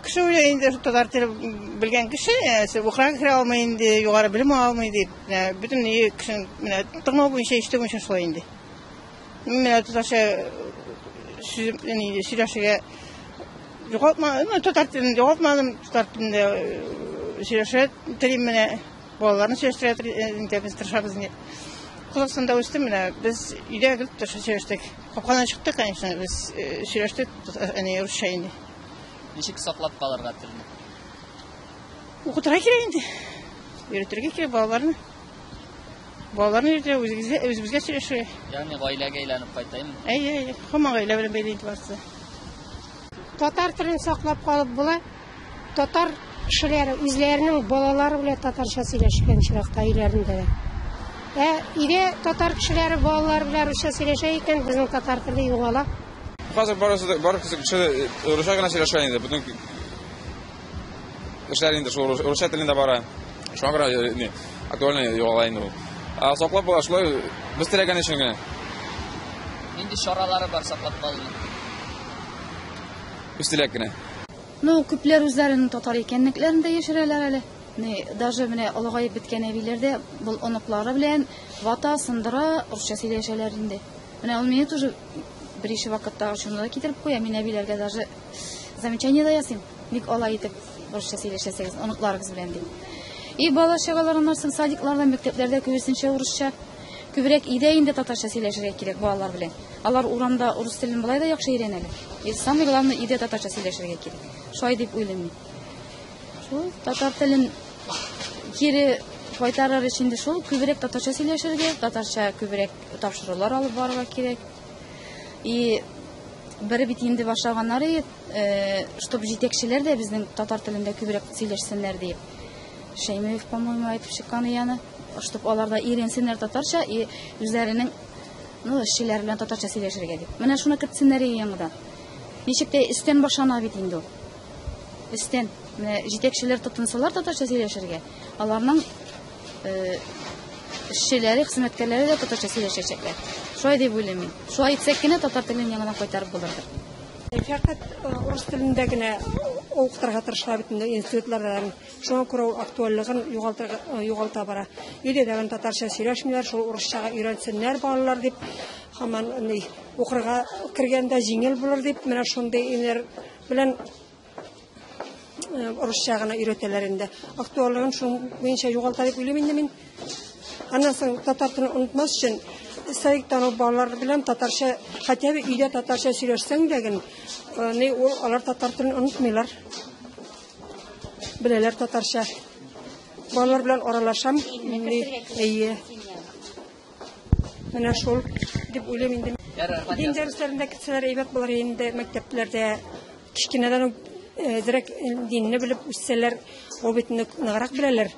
кеше уже инде татар теле белгән кеше укырга керә алмый инде югары белем ала алмый дип бөтен кешенең менә тыңлау буенча ишетү буенча шулай инде менә татарча сөйләшергә югалтма татар телен югалтмадым татар телендә сөйләшә телим менә Балаларны сөйләштерә инде без тырышабыз инде. Кул астында үстем менә. Без өйдә гел сөйләштек. Капкадан чыктык, конечно, без э, сөйләштек, әни русча инде. Ничек саклап калырга телне? Укытырга кирәк инде. Өйрәтергә кирәк балаларны. Балаларны өйрәтергә, үзебезгә, үзебезгә сөйләшергә. Ягъни гаиләгә әйләнеп кайтайм. Әйе, әйе. Һаман гаилә белән бәйле инде барысы. Татар телен саклап калып була. Татар кешеләре үзләренең балалары белән татарча сөйләшкән очракта өйләрендә дә. Ә өйдә татар кешеләре балалары белән русча сөйләшә икән, безнең татар теле югала. Хәзер барысы да бар кеше русча гына сөйләшә инде. Бүтән кешеләр инде шул русча телендә бара. Шуңа күрә э, не актуально югала инде ул. Ә саклап була шулай без теләгән өчен генә. Нинди чаралары бар саклап калуның? Үз теләк кенә. Ну, күпләр үзләренең татар икәнлекләрен дә яшерәләр әле. Ни, даже менә олыгаеп беткән әбиләр дә бул оныклары белән вата, сындыра, русча сөйләшәләр инде. Менә ул мине тоже берише вакытта ачуына да китереп куя. Мин әбиләргә даже замечание да ясыйм. Ник алай итеп русча сөйләшәсегез оныкларыгыз белән дип. И бала чагалар аннан соң садикларда, мәктәпләрдә күбесенчә урысча. Күбрәк өйдә инде татарча сөйләшергә кирәк балалар белән. Алар урамда урыс телен болай да яхшы өйрәнәләр. И самый главный өйдә татарча сөйләшергә кирәк. Шулай дип уйлыйм мин. Шул татар телен кире кайтарыр өчен дә шул күбрәк татарча сөйләшергә, татарча күбрәк тапшырулар алып барырга кирәк. И бер бит инде башлаганнар иде, э, чтобы җитәкчеләр дә безнең татар телендә күбрәк сөйләшсеннәр дип. Шәймиев, по-моему, айтып чыккан ияне. Штук алар да иренсеннәр татарча и үзләренең ну эшчеләр белән татарча сөйләшергә дип. Менә шуны кертсеннәр иде яңадан. Ничек тә өстән башлана бит инде ул. Өстән менә җитәкчеләр тотынсалар татарча сөйләшергә, аларның э, эшчеләре, хезмәткәрләре дә татарча сөйләшәчәкләр. Шулай дип уйлыйм мин. Шулай итсәк кенә татар телен яңадан кайтарып булырдыр. Фәкать э, урыс телендә генә укытырга тырышалар бит инде институтларда Шуңа күрә ул актуальлыгын югалта бара. Өйдә тагын татарча сөйләшмиләр, шул урысчага өйрәнсеннәр балалар дип, һаман ни, укырга кергәндә җиңел булыр дип, менә шундый өйләр белән урысча гына өйрәтәләр инде. Актуальлыгын шуның буенча югалта дип уйлыйм инде мин. Аннан соң татар телен онытмас өчен сәйк тану балалар белән татарча, хотя бы өйдә татарча сөйләшсәң дә генә, ул алар татар телен онытмыйлар. Беләләр татарча. Балалар белән аралашам. Әйе. Менә шул дип уйлыйм инде. Дин дәресләрендә китсәләр әйбәт булыр инде мәктәпләрдә кечкенәдән үк әзрәк динне белеп үссәләр, ул бит ныграк беләләр.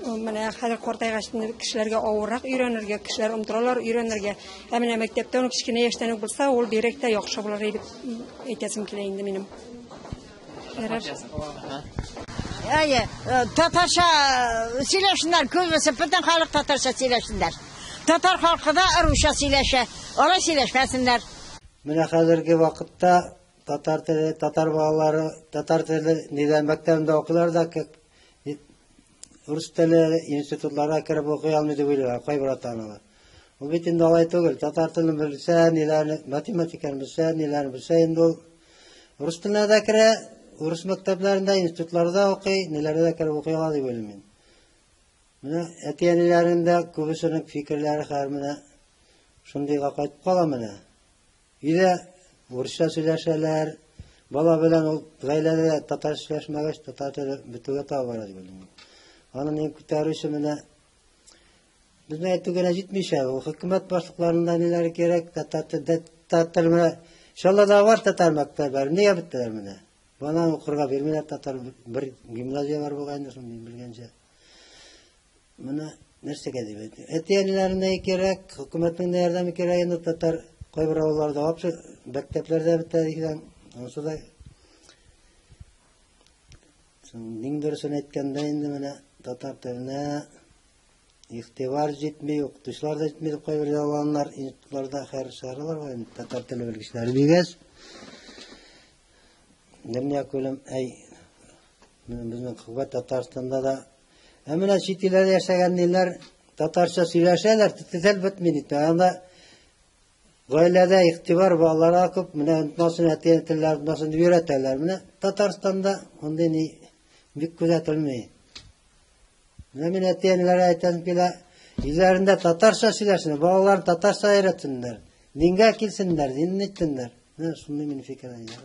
Менә хәзер картайгач кешеләргә авыррак өйрәнергә, кешеләр онтыралар өйрәнергә. Ә менә мәктәптә үк кечкенә яшьтән үк булса, ул бигрәк тә яхшы булыр дип әйтәсем килә инде минем. Әйе, э, татарча э, сөйләшеннәр, күбесе бөтен халык татарча сөйләшеннәр. Татар халкы да русча сөйләшә, алай сөйләшмәсеннәр. Менә хәзерге вакытта татар теле, татар балалары татар теле нидә мәктәбендә укыйлар да Рус теле институтларына кереп укый алмый дип уйлыйлар кайбер ата-аналар. Бу бит инде алай түгел. Татар телен белсә, ниләрне, математиканы белсә, ниләрне белсә инде ул рус теленә дә керә, урыс мәктәпләрендә, институтларда укый, ниләрдә дә кереп укый ала дип уйлыйм мин. Менә әти-әниләрнең дә күбесенең фикерләре хәзер менә шундыйга кайтып кала менә. Өйдә урысча сөйләшәләр. Бала белән ул гаиләдә татар сөйләшмәгәч, татар теле бетүгә таба бара дип уйлыйм. Аны мин күтәрүче менә безнең әйтү генә җитмичә, ул хөкүмәт башлыкларында ниләр кирәк, татар телдә татар теле менә Чаллыда бар татар мәктәпләре, нигә беттеләр менә? Бана укырга бирмиләр татар бер гимназия бар бугай инде шундый белгәнчә. Моны нәрсәгә дип әйтә? Әти-әниләренә кирәк, хөкүмәтнең дә ярдәме кирәк инде татар кайбер авылларда вообще мәктәпләрдә бетә дигән. Анысы да Иң дөресен әйткәндә инде менә татар теленә игътибар җитми, укытучылар да җитми дип кайбер ялганнар институтларда хәр чыгаралар ғой инде татар теле белгечләре дигәч. Дөнья күлем әй безнең Кубат Татарстанда да Ә менә чит илләрдә яшәгән ниләр татарча сөйләшәләр, тел бетми бит. Анда гаиләдә игътибар балаларга күп, менә онытмасын әти телләр онытмасын дип өйрәтәләр. Менә Татарстанда мондый ни бик күзәтелми. Менә мин әти-әниләргә әйтәм килә, Илләрендә татарча сөйләшсеннәр, балалар татарча өйрәтсеннәр. Дингә килсеннәр, динне итсеннәр. Менә шундый мин фикер әйдәр.